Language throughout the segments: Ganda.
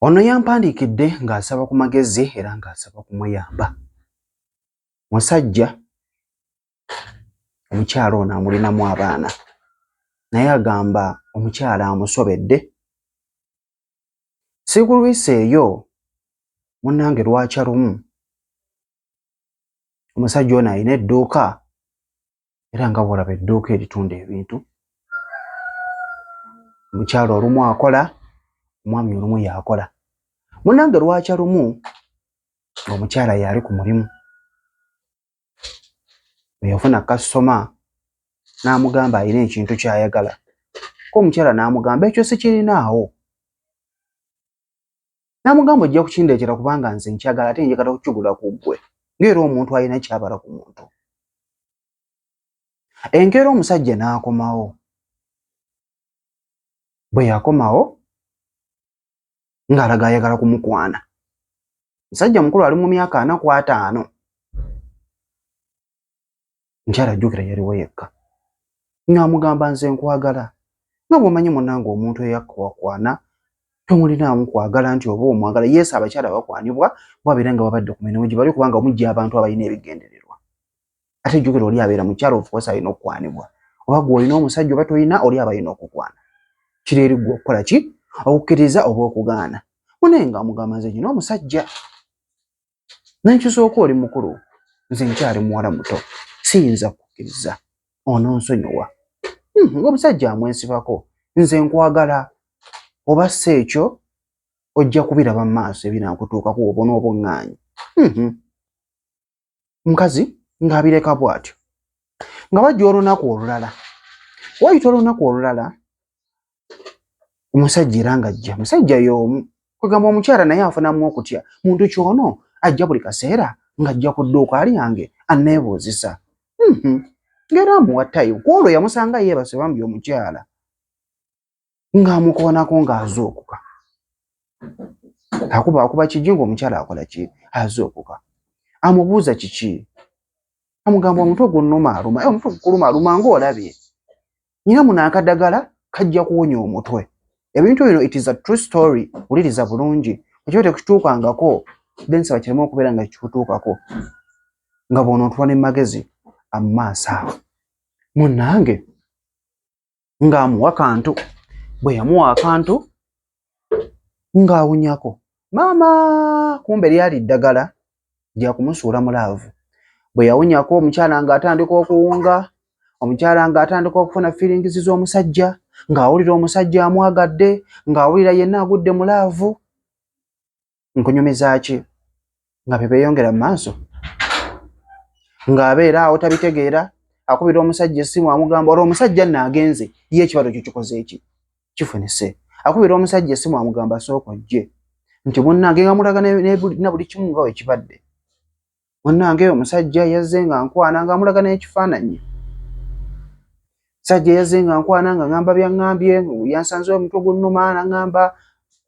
Ono yampandiikidde ng'asaba ku magezi era ng'asaba kumuyamba. Musajja omukyala ono amulinamu abaana naye agamba omukyala amusobedde. Sikulwisa eyo munnange lwakya lumu omusajja ono alina edduuka era nga bwolaba edduuka eritunda ebintu omukyalo olumu akola omwami olumu yakola munange lwakya lumu ngaomukyala yaali ku mulimu eyafuna kasitoma n'amugamba alina ekintu kyayagala ko omukyala n'amugamba ekyo sikirinaawo n'amugamba ojja kukindeetera kubanga nze nkyagala ate njagala okukigula ku ggwe ng'era omuntu alina kyabala ku muntu enkeera omusajja n'akomawo bwe yakomawo ng'alaga ayagala kumukwana musajja mukulu ali mu myaka ana ku ataano nkyala jjukira yaliwo yekka ng'amugamba nze nkwagala nga bwomanyi munange omuntu eyakwakwana tomulinaamu kwagala nti oba omwagala yesu abakyala bakwanibwa babeera nga babadde ku mirimu gye bali kubanga omujja abantu abalina ebigendererwa ate jjukira oli abeera mukyala ofukosa alina okukwanibwa oba gwe olina omusajja oba tolina oli abalina okukwana kiri eri gwe okukola ki okukkiriza oba okugaana munaye nga amugamba nze nyina omusajja nenkisooka oli mukulu nze nkyali muwala muto siyinza kukkiriza ononsonyiwa hmm, ngaomusajja amwesibako nze nkwagala oba si ekyo ojja kubiraba mu maaso ebinakutuukaku obona obuŋŋaanyi hmm. mukazi ng'abireka bw'atyo nga bajja olunaku olulala wayita olunaku olulala omusajja era ng'ajja musajja y'omu kwegamba omukyala naye afunamu okutya muntu kyono ajja buli kaseera ng'ajja ku dduuka alyange anneebuuzisa mhm. ng'era amuwa tayimu ku olwo yamusanga yeebase bambi omukyala ng'amukoonako ng'azuukuka akuba akuba kigi ng'omukyala akola ki azuukuka amubuuza kiki amugamba omutwe gunnuma aluma eh, omutwe gukuluma aluma ng'olabye nyina muno akadagala kajja kuwonya omutwe ebintu bino it is a true story wuliriza bulungi ekiba tekituukangako then saba kireme okubeera nga kikutuukako nga bwonontula ne magezi amumaaso awo munange ng'amuwa kantu bwe yamuwa akantu ng'awunyako maama kumbe lyali ddagala lya kumusuula mu laavu bwe yawunyako omukyala ng'atandika okuwunga omukyala ng'atandika okufuna fiiringizi z'omusajja ng'awulira omusajja amwagadde ng'awulira yenna agudde mu laavu nkunyumizaaki nga bye beeyongera mu maaso ng'abeera awo tabitegeera akubira omusajja essimu amugamba olwo omusajja nno agenze ye ekibalo kyo kikoze eki kifunise akubira omusajja essimu amugamba sooka ojje nti munnange nga mulaga na buli kimu nga wekibadde munnange omusajja yazze nga nkwana nga amulaga n'ekifaananyi sajja yazze nga nkwana nga ŋamba byaŋambye yansanze omutwe gunnuma naŋamba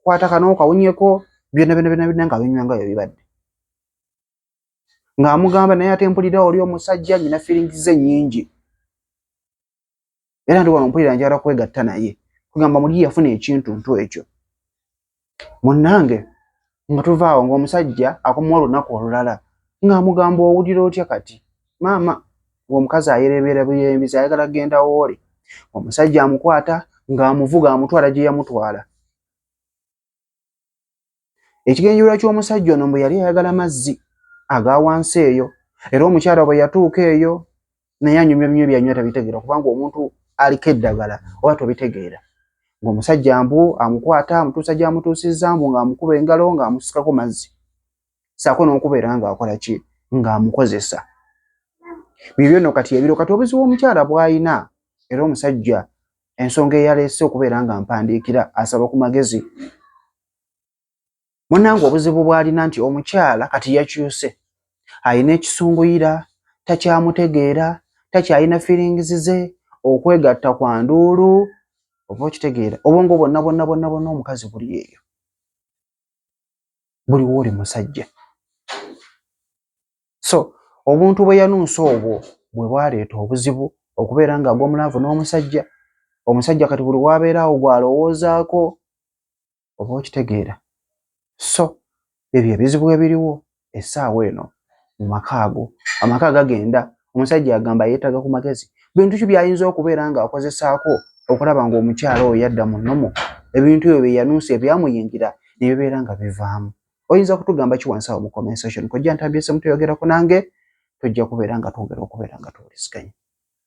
kwata kano kawunyeko byona byona byona byona nga binywa nga byebibadde ng'amugamba naye ate mpulira oli omusajja nyina feelings ze nnyingi era ndi wano mpulira njala kwegatta naye kugamba muli yafuna ekintu ntu ekyo munnange nga tuvaawo ng'omusajja akomawo olunaku olulala ng'amugamba owulira otya kati maama ng'omukazi ayerebeera buyembizi ayagala kugenda wooli omusajja amukwata ng'amuvuga amutwala gye yamutwala ekigenjula ky'omusajja ono mbu yali ayagala mazzi aga wansi eyo era omukyala bwe yatuuka eyo naye anyumya binywa byanywa tabitegeera kubanga omuntu aliko eddagala oba tobitegeera ng'omusajja mbu amukwata amutuusa gy'amutuusizza mbu ng'amukuba engalo ng'amusikako mazzi saako n'okubeera ng'akola ki ng'amukozesa bibyo nno kati ebiro kati obuzibu omukyala bw'alina era omusajja ensonga eyaleese okubeera nga mpandiikira asaba ku magezi munange obuzibu bwalina nti omukyala kati yakyuse alina ekisunguyira takyamutegeera takyalina feelings ze okwegatta kwa nduulu oba okitegeera obwongo bwonna bwonna bwonna bwonna omukazi buli eyo buliwo oli musajja so obuntu bwe yanunsa obwo bwe bwaleeta obuzibu okubeera nga agwa mulaavu n'omusajja omusajja kati buli wabeera awo gwalowoozaako oba okitegeera so ebyo ebizibu ebiriwo essaawa eno mu maka ago amaka agagenda omusajja agamba yeetaaga ku magezi bintu ki byayinza okubeera ng'akozesaako okulaba ng'omukyala oyo yadda mu nnomu ebintu ebyo bye yanunsa ebyamuyingira ne bibeera nga bivaamu oyinza kutugamba ki wansi awo mu comment section kojja ntambyese mutuyogerako nange tujja kubeera nga twongera okubeera nga tuwuliziganya